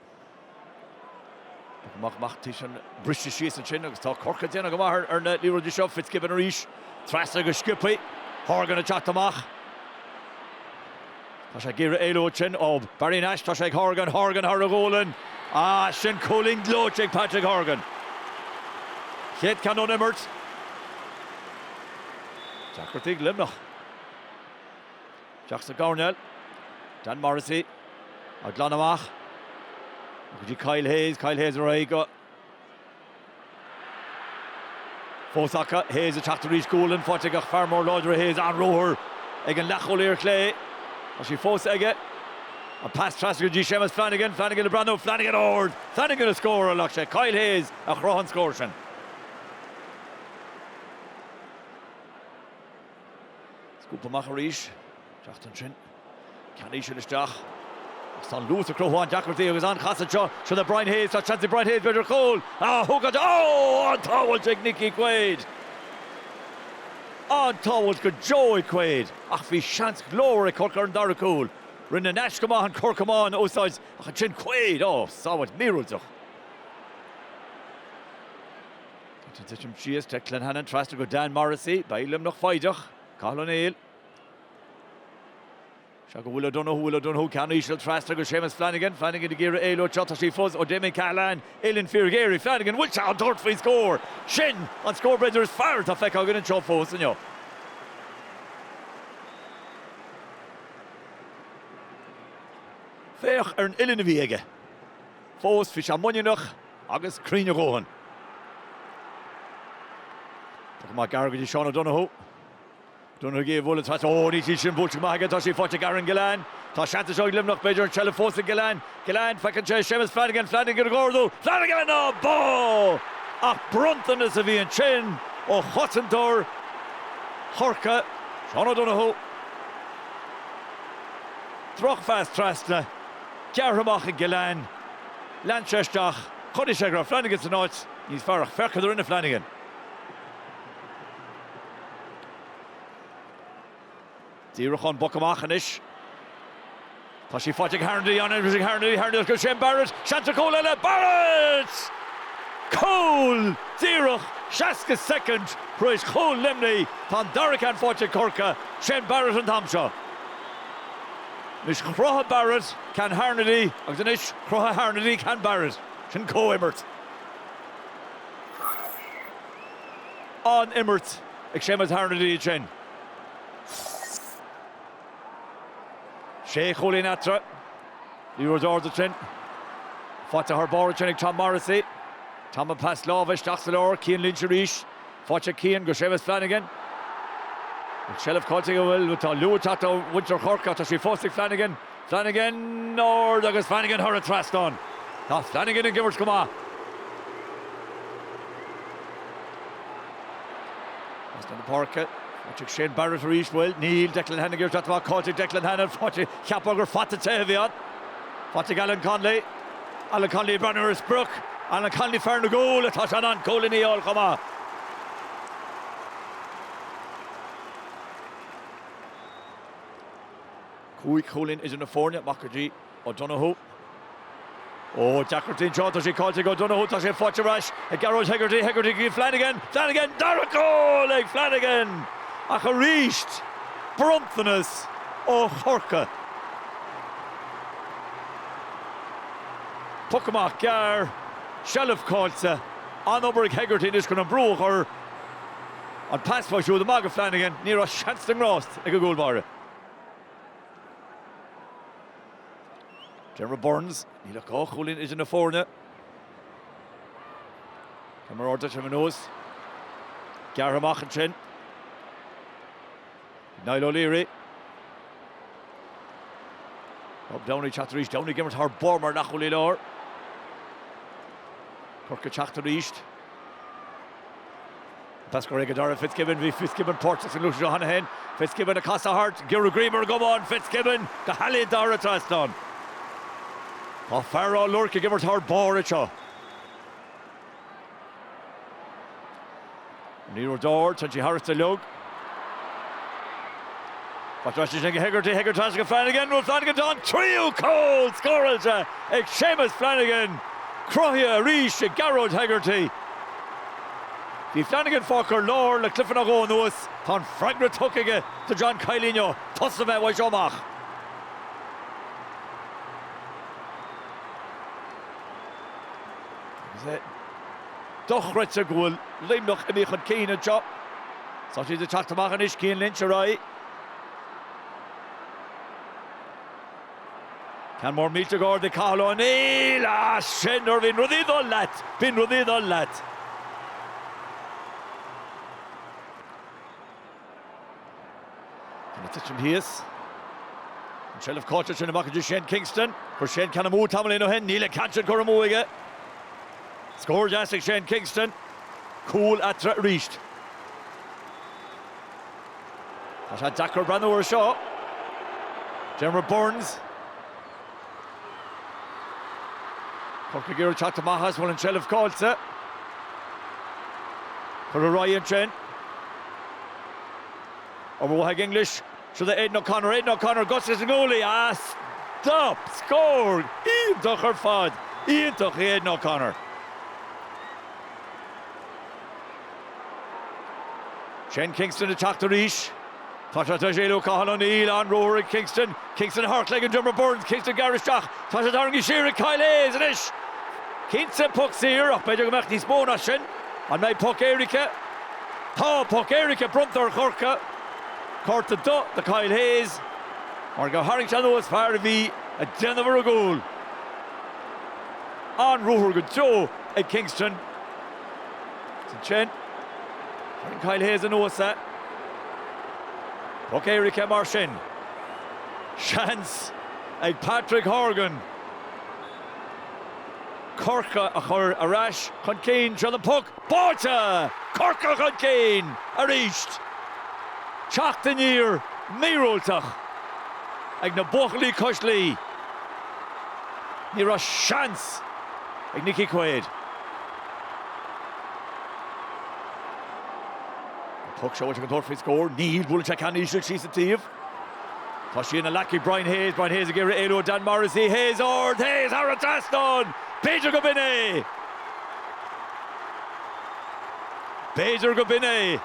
Poc amach amach tá sin briste síos ansin agus tá Corcaigh ag déanamh go maith ar na liathróidí seo. Fitzgibbon arís. Trasna go sciobtha. Horgan ag teacht amach. Tá sé ag iarraidh éalú ansin ó Barry Nash. Tá sé ag Horgan. Horgan thar a ghualainn. Ah, sin cúilín gleoite ag Patrick Horgan. Chéad ceann ón imirt. Deacrachtaí ag Luimneach. Isteach sa gcoirnéal. Dan Morrissey á glanadh amach. Go dtí Kyle Hayes. Kyle Hayes ar aghaidh go. Fós acu Hayes ag teacht arís Gualainn faighte aige ach fear mór láidir é Hayes an-ruathar ag an leathchúlaí ar chlé. Tá sí fós aige. An pas trasna go dtí Séamus Flanagan. Flanagan ag breathnú. Flanagan ag ardú. Flanagan ag scóráil ach sé Kyle Hayes a chruthaigh an scór sin. Scuabtha amach arís, ag teacht ansin. Ceann íseal isteach agus tá an luas ag cruthú an-deacrachtaí agus an-chasadh anseo seo le Brian Hayes. Tá seans ag Brian Hayes b'fhéidir cúl a thógaint. Ó! An-tsábháilt ag Nicky Quaid! An-tsábháilt go deo ag Quaid ach bhí seans glórmhar ag Corcaigh ar an dara cúl. Rinne Nash go maith an cor camáin a úsáid ach ansin Quaid! Ó! Sábháilt míorúilteach. Ag titim síos, Declan Hannon trasna go Dan Morrissey, beidh Luimneach foighdeach. Cathal Ó Néill. Seo go Will O'Donoghue, Will O'Donoghue ceann íseal trasna go Séamus Flanagan, Flanagan ag iarraidh éalú, seo tá sí fós ó Damien Cahalane, Uillinn fíorghéar ag Flanagan, bhfuil sé ag tabhairt faoin scór? Sin an scór b'fhéidir is fearr atá feicthe againn anseo fós inniu. Féach ar an uillinn a bhí aige. Fós bhí sé muiníneach agus cruinn a dhóthain. Tugtha amach gearr go dtí Seán O'Donoghue. Donoghue a bhuail an tslat. Ó, níl sí sin buailte go maith aige, tá sí faighte ag Aaron Gillane. Tá seans anseo ag Luimneach, b'fhéidir an seilbh fós ag Gillane. Gillane, feiceann sé Séamus Flanagan, Flanagan ag ardú, Flanagan, á bá! Ach bronntanas a bhí ansin ó chosantóir Chorcaí, Seán O'Donoghue. Drochphas trasna. gearrtha amach ag Gillane. Lean sé isteach, chonaic sé go raibh Flanagan san áit níos fearr ach féach cad a rinne Flanagan. Díreach ón bpoc amach anois. Tá sí faighte ag Harnedy an agus ag Harnedy Harnedy go Shane Barrett, seans ar chúl eile, Barrett! Cúl! Díreach 60 soicind tar éis chúl Luimnigh, tá an dara ceann faighte ag Corcaigh, Shane Barrett an t-am seo. Anois chruthaigh Barrett ceann Harnedy agus anois chruthaigh Harnedy ceann Barrett. Sin comh-imirt. An-imirt ag Seamus Harnedy ansin. Sé chúilín eatarthu. Liathróid ard ansin. Faighte thar barr ansin ag Tom Morrissey. Tom ag pas láimhe isteach sa lár. Cian Lynch arís. Faighte ag Cian go Séamus Flanagan. An tseilbh caillte aige an bhfuil atá luaite acu do mhuintir Chorcaí ach tá sí fós ag Flanagan. Flanagan ard agus Flanagan thar an trasnán. Tá Flanagan ag imirt go maith. Trasna na páirce. Faighte ag Shane Barrett arís an bhfuil níl Declan Hannon ach tá sé caillte ag Declan Hannon faighte cheapfá gur fata te a bhí ann. Faighte ag Alan Connolly. Alan Connolly ag breathnú ar an sprioc Alan Connolly fear na gcúl ach tá sé in ann cúilíní a fháil chomh maith. Cúig chúilín idir na foirne, amach go dtí O'Donoghue. Ó, deacrachtaí anseo, tá sé caillte ag O'Donoghue, tá sé faighte ar ais ag Gearóid Hegarty, Hegarty go Flanagan, Flanagan, dara cúl ag Flanagan! Ach arís, bronntanas ó Chorcaigh. Poc amach gearr, seilbh caillte, an-obair ag Hegarty anois chun an brú a chur, an pas uaidh siúd amach go Flanagan, ní raibh seans na ngrást ag an gcúl báire. Diarmuid Byrnes, níl ach dhá chúilín idir na foirne. Tá mar ardá trim anuas. Gearr amach ansin. Niall O'Leary. Rob Downey ag teacht arís. Downey ag imirt thar barr mar leathchúlaí láir. Corcaigh ag teacht arís. An t-eascairí ag Darragh Fitzgibbon. Bhí Fitzgibbon páirteach sa ngluaiseacht seo cheana féin. Fitzgibbon ag casadh thart. Gearóid Greenberg ag iomán. Fitzgibbon go healaíonta thar an trasnán. Tá fear Ráth Luirc ag imirt thar barr anseo. An liathróid ard, téann sí tharstu uilig. Faighte ar ais ansin ag Hegarty, Hegarty trasna go Flanagan, bhuail Flanagan tá an tríú cúl scóráilte ag Séamus Flanagan, cruthaithe arís ag Gearóid Hegarty. Bhí Flanagan fágtha ar lár le cluiche nó dhó anuas, tá an freagra tugtha aige do John Kiely inniu, tosaigh mé uaidh seo amach. Agus é dochreidte go bhfuil Luimneach imithe chun cinn anseo. Tá siad ag teacht amach anois, Cian Lynch ar aghaidh. Ceann mór millteach ard ag Cathal Ó Néill. Ah, sin nuair a bhíonn rudaí ag dul leat! Bíonn rudaí ag dul leat! Ag titim thíos. An tseilbh caite ansin amach go dtí Shane Kingston. Chuir Shane ceann amú tamaillín ó shin. Níl an ceann sin curtha amú aige. Scór deas ag Shane Kingston. Cúl eatarthu arís. Tá sé deacair breathnú air seo. Diarmuid Byrnes. Corcaigh ag teacht amach ach tá an tseilbh caillte. Curtha ar aghaidh ansin. Obair mhaith ag English, siúd é Aidan O'Connor, Aidan O'Connor agus is ón ngualainn a. scuab! Scór! Iontach ar fad! Iontach ag Aidan O'Connor. Shane Kingston ag teacht arís. Tá sé tar éis éalú ó Cathal O'Neill. An-ruathar ag Kingston. Kingston thar chlé go Diarmuid Byrnes. Kingston ag gearradh isteach. Tá sé tarraingthe siar ag Kyle Hayes anois. Cinnte puc saor ach b'fheidir go mbeadh níos mó ná sin. An mbeidh poc éirice? Tá poc éirice bronnta ar Chorca. Cárta dubh do Kyle Hayes mar gur tharraing sé anuas fear a bhí ag déanamh ar an gcúl. An-ruathar go deo ag Kingston. Ansin, tharraing Kyle Hayes anuas é. Puc éirice mar sin. Seans ag Patrick Horgan Corcaigh a chur ar ais chun cinn seo é an puc. Báite! Corcaigh chun cinn arís! Teacht aniar míorúilteach ag na buachaillí cois Laoi. Ní raibh seans ag Nicky Quaid. An puc seo ag an tóraí scór, níl buaileann sé ceann íseal síos sa taobh. Tá sí ina ghlac ag Brian Hayes, Brian Hayes ag iarraidh éalú ó Dan Morrissey, Hayes ard, Hayes thar an trasnán, b'fhéidir go b'in é! B'fhéidir go b'in é!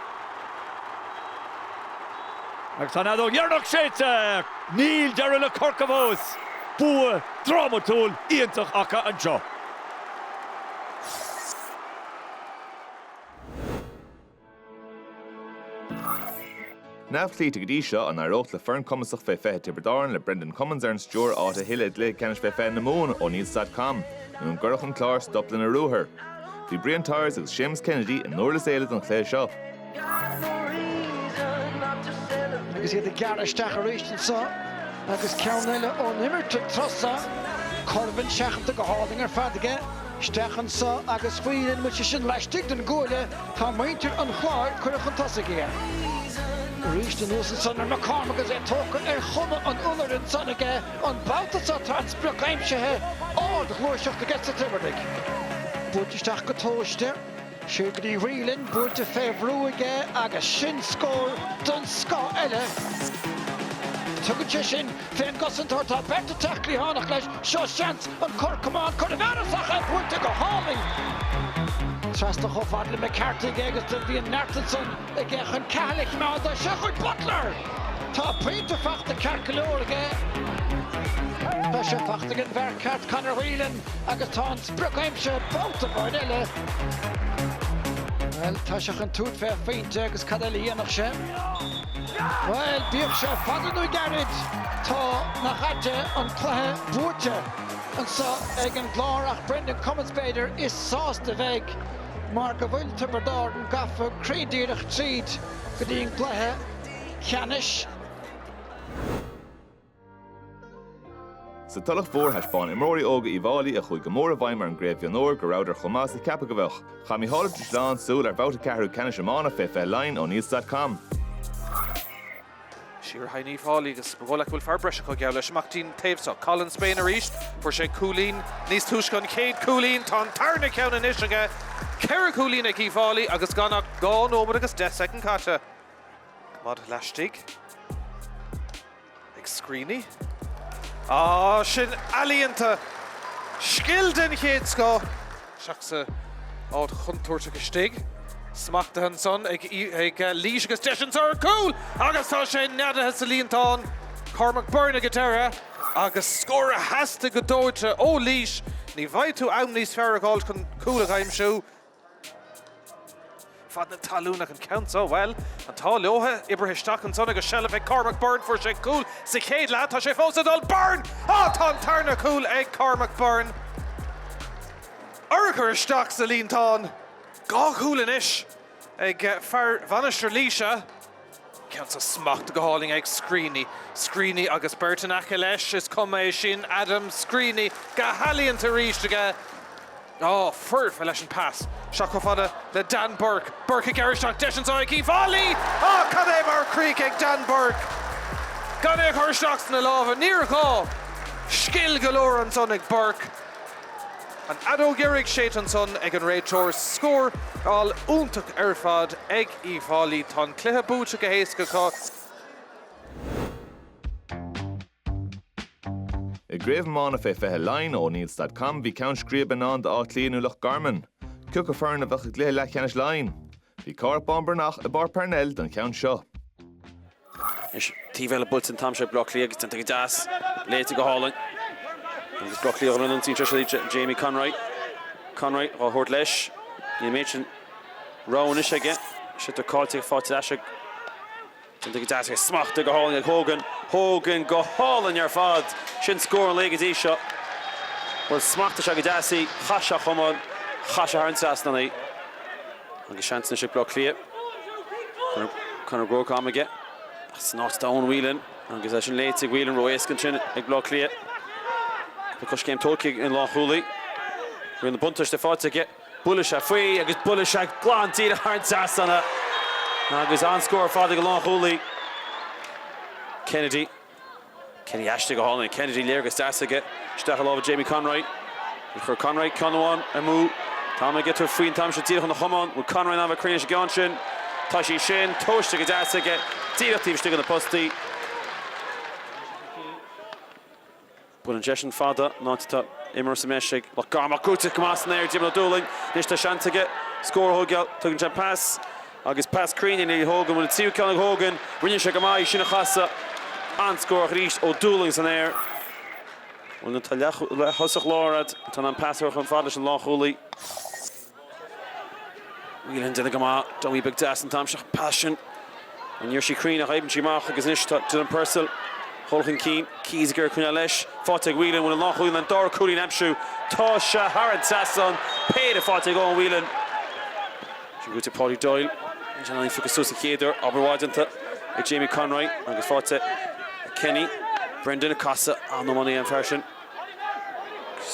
Agus tá an fheadóg dheireanach séidte! Níl deireadh le Corcaigh fós! Bua drámatúil iontach acu anseo. Neamhchloíte go dtí seo, an éireoidh le foireann chumasach fé 20 Tiobraid Árann le Brendan Cummins ar an stiúir áit a thuilleamh i gcluiche ceannais fé 20 na Mumhan O'Neills.com nó an gcuirfidh an Clár stop lena ruathar? Bhí Brian Tyers agus Séamus Kennedy i nDurlas Éile don chluiche seo. Agus iad ag gearradh isteach arís anseo agus ceann eile ón imirt ag teastáil. Corbán seachanta go hálainn ar fad aige. Isteach anseo agus faigheann sé é sin laistigh den gcuaille. Tá muintir an Chláir curtha chun tosaigh aige. Arís anuas ansan ar McCormack agus é tógtha ar chuma an iolair ansan aige. An babhta seo tá an sprioc aimsithe, ardghluaiseacht aiges na Tiobradaigh. Buailte isteach go tomhaiste. Sé go dtí Whelan buailte fé bhrú aige agus sin scór den scoth eile. Tugann sé sin fé an gcosantóir atá beirt ag teacht cliathánach leis, seo seans an cor camán cur i bhfearas ach é buailte go hálainn trasna chomh fad le McCarthy aige agus do bhí an neart ansan. Aige chun ceathrar a chimeád as seo chuig Butler! Tá pointe fachta ceart go leor aige. Tá sé fachta ag an bhfear ceart Conor Whelan agus tá an sprioc aimsithe babhta amháin eile. Bhuel, tá sé chun tabhairt fé phointe agus cad eile a dhéanfadh sé? Bhuel, bíodh sé fada nó gairid, tá, nach ait é, an cluiche buaite anso ag an gClár ach Brendan Cummins, b'fhéidir, is sásta a bheidh. mar go bhfuil Tiobraid Árann gafa cruinn díreach tríd go dtí an gcluiche ceannais. Sa Tulach Mhór, thaispeáin imreoirí óga Uíbh Fháilí, a chuaigh go mór i bhfeidhm ar an gcraobh mhionúir, go rabhadar chomh maith is a ceapadh a bheadh. Chaith Micheál Ó Drisleáin súil ar bhabhta ceathrú ceannais iomána fé fiche Laighean O'Neills.com. Seo ar aghaidh Uíbh Fháilí agus ba dhóigh leat go bhfuil fear breis acu, geall leis, amach dtí'n taobh seo. Colin Spain arís. Fuair sé cúilín níos túisce, an chéad cúilín. Tá an tarna ceann anois aige. Ceithre chúilín ag Uíbh Fháilí agus gan ach dhá nóiméad agus deich soicind caite. Coimeád laistigh ag Screeney. Á, sin ealaíonta! Scil den chéad scoth! Isteach sa áit chontúirteach istigh. Smachtaithe ansan ag Laois agus deis anso ar chúl agus tá sé neadaithe sa líontán. Cormac Byrne ag an deireadh agus scór a theastaigh go dóite ó Laois. Ní bhfaighidh tú am níos fearr a dh'fháilt chun cúl a aimsiú. fad na talún ach an ceann seo, bhuel, an t-ádh leo, oibrithe isteach ansan agus seilbh ag Cormac Byrne, fuair sé cúl sa chéad leath, tá sé fós ag dul, Byrne! Á! Tá an tarna cúl ag Cormac Byrne! Urchar isteach sa líontán! Dhá chúl anois ag fear Mhainistir Laoise. Ceann so smachtaithe go hálainn ag Screeney. Screeney agus beirt in aice leis, is cuma é sin, Adam Screeney, go healaíonta arís aige. Á, foirfe leis an bpas isteach chomh fada le Dan Bourke. Bourke ag gearradh isteach, deis anso ag Uíbh Fháilí! Á, cad é mar chrích ag Dan Bourke gan é a chur isteach sna lámha. Níor ghá! Scil go leor ansan ag Bourke. An fheadóg dheiridh séidte ansan ag an réiteoir. Scóráil iontach ar fad ag. Uíbh Fháilí. Tá an cluiche buaite go héasca acu. I gCraobh Iomána Fé 20 Laighean O'Neills.com, bhí ceann scríbe i ndán d'Áth Cliath nó Loch Garman. Cioca foireann a bheadh i gcluiche leathcheannais Laighean? Bhí Cárthach Bán Breathnach i bPáirc Parnell don cheann seo. Anois taobh eile buailte an t-am seo ag Bleá Cliath agus déanta go deas, léite go hálainn agus Bleá Cliath glan an tsaoil seo de Jamie Conroy. Conroy á thabhairt leis. Níl an méid sin rogha anois aige. Sliotar caillte aige faighte ar ais ag. Déanta go deas aige, smachta go hálainn ag Hogan. Hogan go hálainn ar fad! Sin scór an lae go dtí seo. Bhuel smachtaigh sé go deas í, chaith sé chomh maith, chaith sé thar an trasnán í. Agus seans anois ag Bleá Cliath. Conor Groarke am aige agus an áit d'Eoin Whelan agus é sin léite ag Whelan ró-éasca ansin ag Baile Átha Cliath. Tá coiscéim tógtha ag an lánchúlaí. Bhí an buntáiste faighte aige. Buaileann sé fada í agus buaileann sé glan díreach thar an trasnán agus an-scór ar fad ag an lánchúlaí Kennedy. Kennedy istigh go hálainn. Kennedy, léargas deas aige. Isteach i lámha Jamie Conroy. Níor chuir Conroy ceann amháin amú. Tá mé ag caint faoi an t-am seo díreach óna chamán. Bhfuil Conroy in ann a bheith cruinn leis an gceann sin? Tá sí sin. Tomhaiste go deas aige. Díreach taobh istigh de na postaí. Baineann sé deis as an áit a bhfuil imreoir sa mbreis ag Loch Garman ach gaoite go maith san aer ag Diarmaid Ó Dúlaing. Anois tá seans aige scór a thógáil. Tugann sé pas agus pas cruinn i ndiaidh Hogan. Bhuel an tríú ceann ag Hogan. Rinne sé go maith í sin a chasadh. An-scór ach arís Ó Dúlaing san aer. Bhuel nuair atá leath-thosaí láir agat atá in ann pas a thabhairt chun faid leis an lánchúlaí. Whelan déanta go maith, dummy beag deas an t-am seo, pas sin ní raibh sí cruinn ach oibríonn sí amach agus anois tá Dylan Purcell dhul chun cinn, Keys ag iarraidh coinneáil leis, faighte ag Whelan bhfuil an lánchúlaí in ann dara cúilín aimsiú, tá sé thar an trasnán, péire faighte ag Eoghan Whelan. Sin gaoite Paudie Doyle, níl sé in ann í phiocadh suas sa chéad uair, obair mhaith déanta ag Jamie Conroy agus faighte ag Kenny. Brendan ag casadh, an-iománaí an fear sin.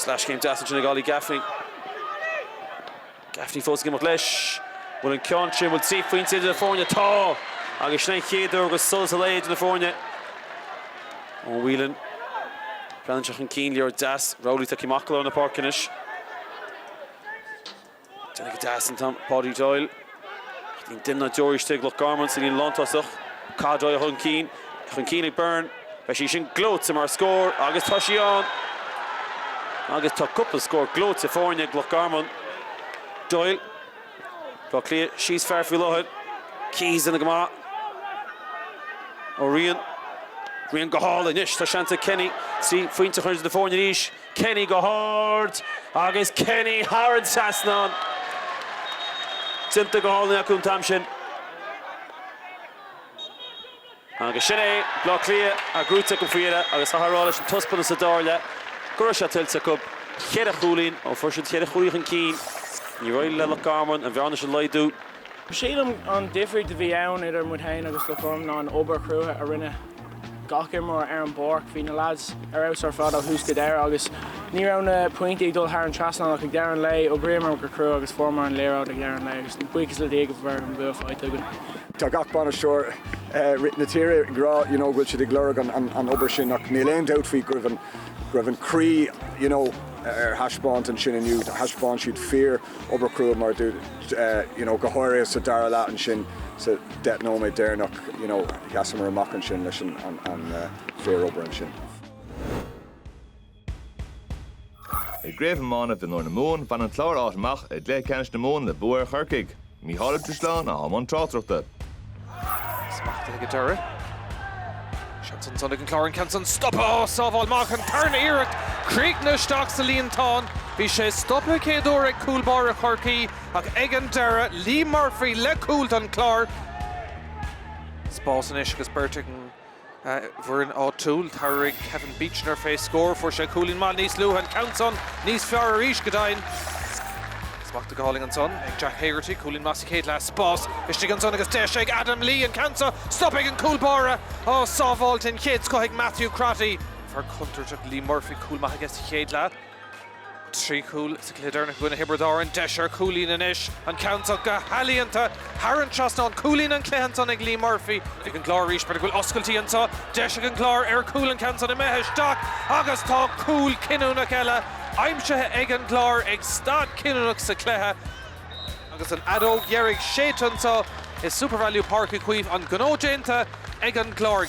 Leathchéim deas ansin ag Ollie Gaffney. Gaffney fós ag imeacht leis. Bhfuil an ceann sin, bhfuil trí phointe idir na foirne? Tá! Agus sin an chéad uair go bhfuil solas an lae idir na foirne. Ó Whelan breathnaigh sé chun cinn, liathróid deas. Rowley ag tíocht amach go lár na páirc anois. Déanta go deas an t-am Paudie Doyle. Ach níl duine ná deoraí istigh ag Loch Garman sa líne lántosach. Cadroia chun cinn. Í chun cinn ag Byrne. Beidh sí sin gleoite mar scór agus tá sí ann! Agus tá cúpla scór gleoite faighte ag Loch Garman. Doyle. Baile Átha Cliath níos fearr faoi láthair. Keys déanta go maith. Ó Riain. Riain go hard anois. Tá seans ag Kenny trí phointe a chur idir na foirne arís. Kenny go hard agus Kenny thar an trasnán. déanta go hálainn acu an t-am sin. Agus sin é, Bleá Cliath an gnó cruthaithe acu faoi dheireadh agus chaithfeá a rá leis an taispeantas sa dara leath go raibh sé tuillte acu. Ceithre chúilín ó fuair siad ceithre chúilín chun cinn. Níor éirigh le Loch Garman an bhearna sin a laghdú. Sílim an difríocht a bhí ann idir muid féin agus Loch Garman ná an obair chrua a rinne gach imreoir ar an bpáirc. Bhí na leaids ar fheabhas ar fad ó thús go deireadh agus ní raibh na pointí ag dul thar an trasnán ach ag deireadh an lae, d'oibríomar go crua agus fuaireamar an liathróid ag deireadh an lae agus buíochas le Dia go bhfuil an bua faighte againn. Tá gach bainisteoir na tíre ag rá you know go bhfuil siad ag lorg an obair sin ach níl aon dabht faoi go raibh an, go raibh an croí you know ar taispeáint ansin inniu. Thaispeáin siad fíor-obair chrua mar a dúirt you know go háirithe sa dara leath ansin sa, deich nóiméad deireanach, you know, sheasamar amach ansin leis an fíor-obair ansin. I gCraobh Iomána Mionúir na Mumhan, bhain an Clár áit amach i gcluiche ceannais na Mumhan le bua ar Chorcaigh. Mícheál Ó Drisleáin a bhí i mbun tráchtaireachta. Smachtaithe go deireadh. Seans ansan ag an Clár an ceann san stoptha sábháil amach, an tarna iarracht críochnaithe isteach sa líontán. Bhí sé stoptha céad uair ag cúl báire Chorcaí. Ach ag an deireadh, Lee Murphy le cúl don Chlár. Spás anois agus beirt ag an bhfoireann áitiúil. Tabharfaidh Kevin Beechner fé scór. Fuair sé cúilín maith níos luaithe, an ceann san níos fearr arís, go deimhin. Smachtaithe go hálainn ansan ag Jack Hegarty. Cúilín maith sa chéad leath. Spás istigh ansan agus deis ag Adam Lee, an ceann so. Stoptha ag an cúl báire. Á, sábháil den chéad scoth ag Matthew Crotty. Fear contúirteach Lee Murphy, cúl maith aige sa chéad leath. Trí chúl sa chluiche deireanach i gcoinne Thiobraid Árann, deis ar chúilín anois. An ceann seo go healaíonta, thar an trasnán. Cúilín an chluiche ansan ag Lee Murphy. Ag an gClár arís, b'fhéidir go bhfuil oscailtí anseo. Deis ag an gClár ar chúl an ceann san imithe isteach agus tá cúl cinniúnach eile aimsithe ag an gClár ag staid chinniúnach sa chluiche. Agus an fheadóg dheiridh séidte anseo i Supervalu Páirc Uí Chaoimh, an gnó déanta ag an gClár.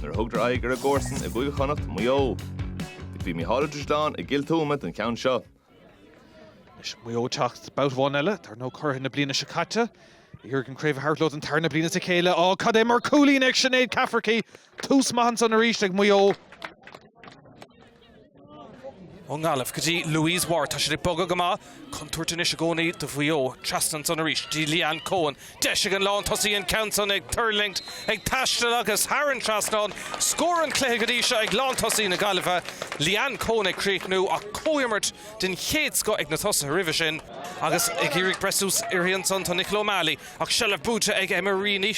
nuair a thugadar aghaidh ar an gcomharsan i gCúige Chonnacht, Maigh Eo. Is bhí Mícheál Ó Drisleáin i dTuaim don cheann seo. Anois Maigh Eo ag teacht babhta amháin eile, dar ndóigh, curaidh na bliana seo caite. ag iarraidh an craobh a thabhairt leo don tarna bliain as a chéile. Á, cad é mar chúilín ag Sinéad Cafferky! Tús maith ansan arís ag Maigh Eo. Ón nGaillimh go dtí Louise Ward, tá siad ag bogadh go maith. Contúirt anois i gcónaí do Mhaigh Eo. Trasna ansan arís go dtí Leanne Coen. Deis ag an lán tosaí an ceann san ag tuirlingt, ag taisteal agus thar an trasnán. Scór an chluiche go dtí seo ag lán tosaí na Gaillimhe. Leanne Coen ag críochnú ach comhimirt den chéad scoth ag na tosaithe roimhe sin. Agus ag iarraidh breith suas uirthi ansan tá Nicola O'Malley ach seilbh buaite ag Emma Reaney.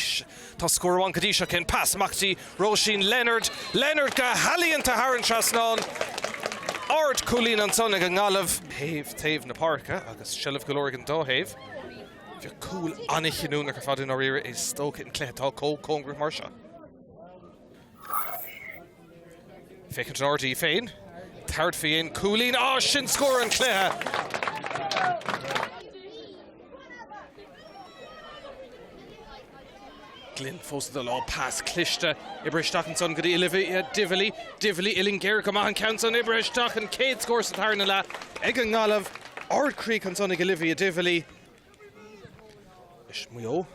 Tá scór amháin go dtí seo ach an pas amach dtí Róisín Leonard. Leonard go healaíonta thar an trasnán. Ard cúilín ansan ag an nGaillimh. Thaobh taobh na páirce agus seilbh go leor ag an dá thaobh. Beidh cúl an-chinniúnach ar fad i ndáiríre is dócha an cluiche atá comh cóngarach mar seo. Féach an trádaí féin. Tabhairt fén gcúilín. Á, sin scór an chluiche! Glynn fós i do lá. Pas cliste. Oibrithe isteach ansan go dtí Olivia Divilly. Divilly uillinn géar go maith an ceann san. Oibrithe isteach an chéad scór sa tarna leath ag an nGaillimh. Ardchríoch ansan ag Olivia Divilly. Is Maigh Eo.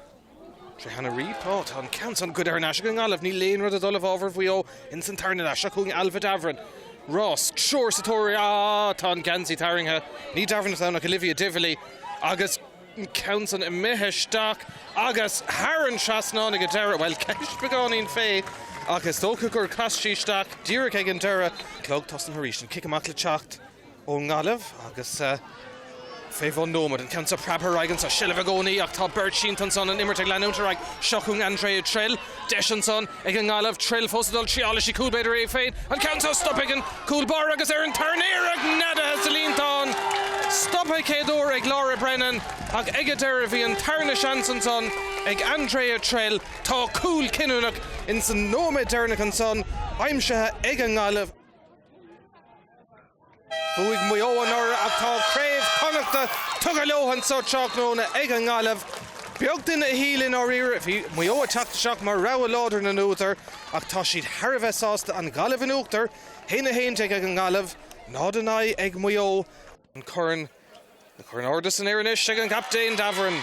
Tré Hannah Reape. Ó, tá an ceann san goidte thar n-ais ag an nGaillimh. Níl aon rud ag dul i bhfabhar Mhaigh Eo ins an tarna leath seo chugainn. Ailbhe Davoren. Fós. Triúr sa tóir uirthi. Á, tá an geansaí tarraingthe. Ní Davoren atá ann ach Olivia Divilly. Agus an ceann san imithe isteach agus thar an trasnán ag an deireadh. Bhuel, ceist beagáinín fé ach is dócha gur chas sí isteach díreach ag an deireadh. Clog tosaithe arís. An cic amach le teacht. ón nGaillimh agus fé bhun nóiméad, an ceann seo preabtha ar aghaidh anseo. Seilbh i gcónaí ach tá beirt sínte ansan, an imirt ag leanúint ar aghaidh. Seo chugainn Andrea Trill. Deis ansan ag an nGaillimh. Trill fós ag dul triailfidh sí cúl b'fhéidir í féin. An ceann seo stoptha ag an gcúl báire agus ar an tarna iarracht neadaithe sa líontán. Stoptha céad uair ag Laura Brennan ach ag an deireadh bhí an tarna seans ansan ag Andrea Trill. Tá cúl cinniúnach ins an nóiméad deireanach ansan aimsithe ag an nGaillimh. Bhuaigh Maigh Eo anuraidh ach tá craobh Chonnachta tugtha leo anseo tráthnóna ag an nGaillimh. Beag duine a shíl i ndáiríre bhí Maigh Eo ag teacht isteach mar rogha láidir na n-údar ach tá siad thar a bheith sásta an Ghaillimh in uachtar 1-11 ag an nGaillimh, 0-9 ag Maigh Eo. An corn an corn ardaithe san aer anois ag an gcaptaen Davoren.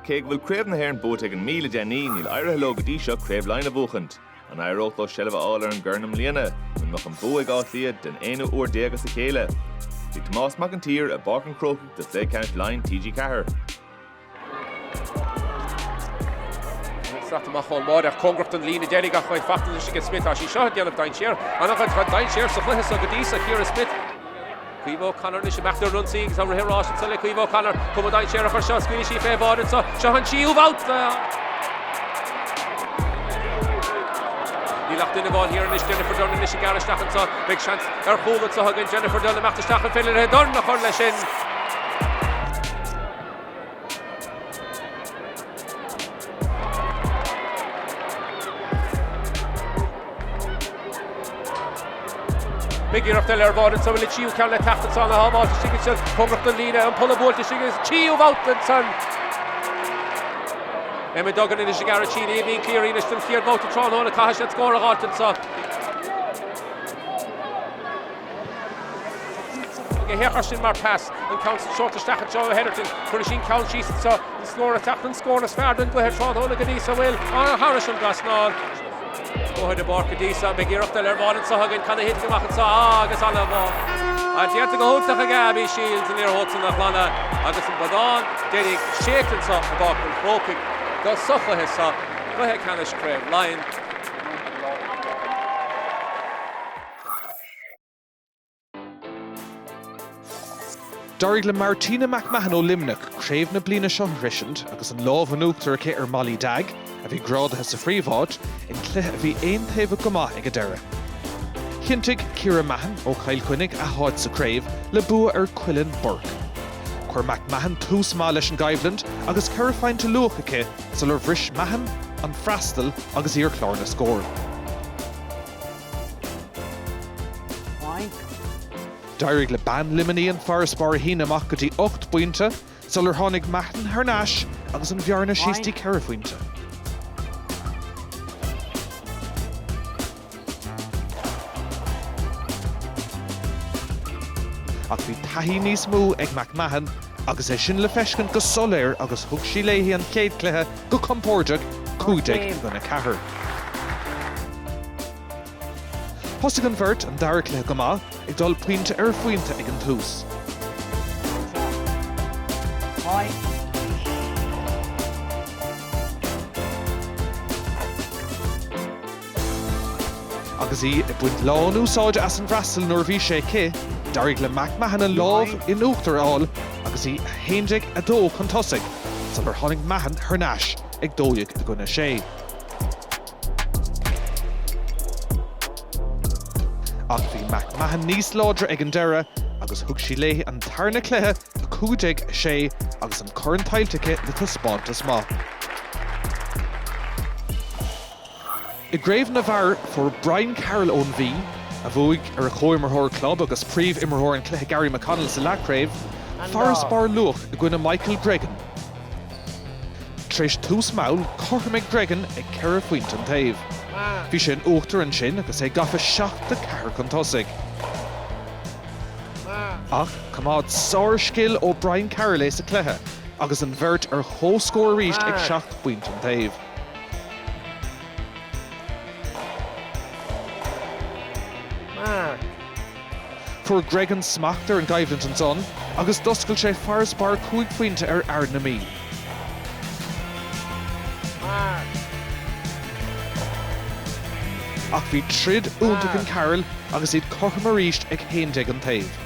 Cé go bhfuil Craobh na hÉireann buaite ag an Mí le déanaí, níl éirithe leo go dtí seo Craobh Laighean a bhuachaint. An éireodh leo seilbh a fháil ar an gcorn i mbliana, nó an mbeadh an bua ag Áth Cliath den aonú uair déag as a chéile? Bhí Tomás Mac an tSaoir i bPáirc an Chrócaigh do chluiche ceannais Laighean TG4. Sraith amach ón mbarr ar cóngarach don líne deiridh ach beidh fachtalais aige Smith as í seo a dhéanamh, Dainséar. An-chuid dainséar sa chluiche seo go dtí seo, Ciara Smith. Caoimhe O'Connor anois amach ar an ionsaí agus tá rith an ráis anseo le Caoimhe O'Connor. Cuma dainséarach ar seo, scaoilfidh sí fé bhráid anseo. Seo an tríú babhta! Níl ach duine amháin thiar anois Jennifer Dunne anois ag gearradh isteach anseo. Beidh seans ar chúl anseo ag Jennifer Dunne amach isteach an féidir léi dorn a chur leis sin. Beidh iarracht eile ar bháide anso, an tríú ceann le teacht anseo, a shábháilt istigh ansin. Cóngaracht an líne, an polla buailte istigh agus tríú babhta ansan. Emma Duggan anois ag aird síneadh, Aoibhín Cleary anois don chéad bhabhta tráthnóna, caithfidh siad scór a fháilt anseo. Ag a hachar sin mar pas, an ceann so seolta isteach i dtreo Hetherton. Cuirfidh sí an ceann síos anseo, an scór ag teacht, an scór is fearr den gcluiche tráthnóna go dtí so. Bhuel, arr, thairis an trasnán. Bóthar na bPáirc go dtí so, beidh iarracht eile ar bháide anseo againn, ceann a thiteann amach anseo, á, agus anall abhaile. An t-iarracht go hiontach ag Abby Shiels, an liathróid san á glanadh, agus an bonnán deiridh séidte anseo i bPáirc an Chrócaigh sa chluiche so, Cluiche Ceannais Craobh Laighean. D'éirigh le Martina McMahon ó Luimneach craobh na bliana seo a shroisint agus an lámh in uachtar aici ar Mollie Dagg, a bhí grádaithe sa phríomh-áit, in cluiche a bhí aon-taobhach go maith ag an deireadh. Chinntigh Ciara Mahon ó Chill Chainnigh a h-áit sa craobh le bua ar Cuileann Bourke. Chuir McMahon tús maith leis an gcoimhlint agus ceithre phointe luath aici sular bhris Mahon an freastal agus í ar chlár na scór. D'éirigh le bean Luimnigh an farasbarr a shíneadh amach go dtí ocht bpointe sular tháinig Mahon thar n-ais agus an bhearna síos dtí ceithre phointe. Ach bhí taithí níos mó ag McMahon, agus é sin le feiscint go soiléir agus thug sí léi an chéad chluiche go compóirdeach, 15-4. Thosaigh an bheirt an dara cluiche go maith, ag dul pointe ar phointe ag an tús. Agus í ag baint lán-úsáide as an bhfreastal nuair a bhí sé aici, d'éirigh le McMahon an lámh in uachtar a fháil agus í 11 2 chun tosaigh sular tháinig Mahon thar n-ais ag 12 i gcoinne 6. Ach bhí McMahon níos láidre ag an deireadh agus thug sí léi an tarna cluiche, 15 6, agus an corn tuillte aici le taispeántas maith. I gcraobh na bhfear, fuair Brian Carroll ón Mhí, a bhuaigh ar a chomhimreoir club agus príomh-imreoir an chluiche Gary McConnell sa leathchraobh, farasbarr luath i gcoinne Michael Gregan. Tar éis tús mall, chothromaigh Gregan ag ceithre phointe an taobh. Bhí sé in uachtar ansin agus é gafa seacht dceathair chun tosaigh. Ach choimeád sárscil ó Brian Carroll é sa chluiche agus an bheirt ar comhscór arís ag seacht bpointe an taobh. Fuair Gregan smacht ar an gcoimhlint ansan agus d'oscail sé farasbarr cúig phointe ar fhear na Mí. Ach bhí troid iontach in Carroll agus iad cothrom arís ag haon déag an taobh.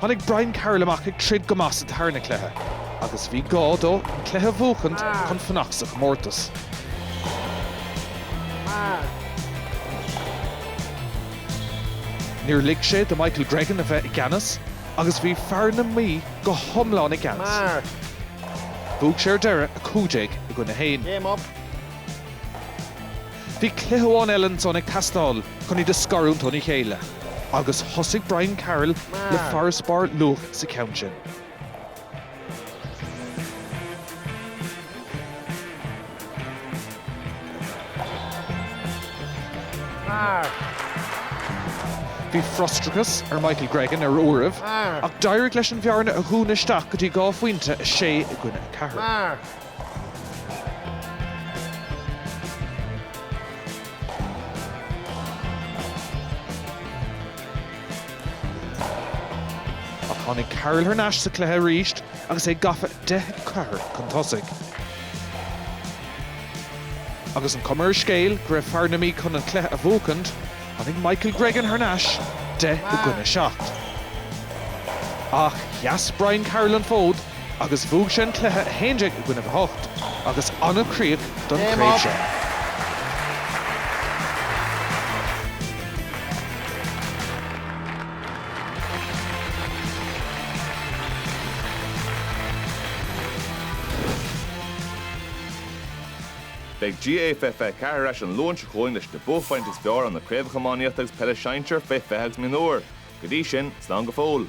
Tháinig Brian Carroll amach ag troid go maith sa tarna cluiche agus bhí gá dó an cluiche a bhuachaint chun fanacht sa chomórtas. Níor lig sé do Michael Gregan a bheith i gceannas agus bhí fear na Mí go hiomlán i gceannas. Bhuaigh sé ar deireadh 15 i gcoinne 1. Bhí cluiche amháin eile ansan ag teastáil chun iad a scarúint óna chéile agus thosaigh Brian Carroll le farasbarr luath sa cheann sin. Bhí frustrachas ar Michael Gregan ar uairibh ach d'éirigh leis an bhearna a dhúnadh isteach go dtí dhá phointe, 6 i gcoinne 4. Ach tháinig Carroll thar n-ais sa chluiche arís agus é gafa 10-4 chun tosaigh. Agus an cuma ar an scéal go raibh fear na Mí chun an cluiche a bhuachaint, tháinig Michael Gregan thar n-ais 10 i gcoinne 7. Ach sheas Brian Carroll an fód agus bhuaigh sé an cluiche 11 i gcoinnibh 8 agus an-chríoch don chraobh seo. Beidh GAA 2024 ar ais an Luan seo chugainn leis na buaicphointí is fearr ó na Craobhacha Iománaíochta agus Peile Sinsir fé 20 agus Mionúir. Go dtí sin, slán go fóill.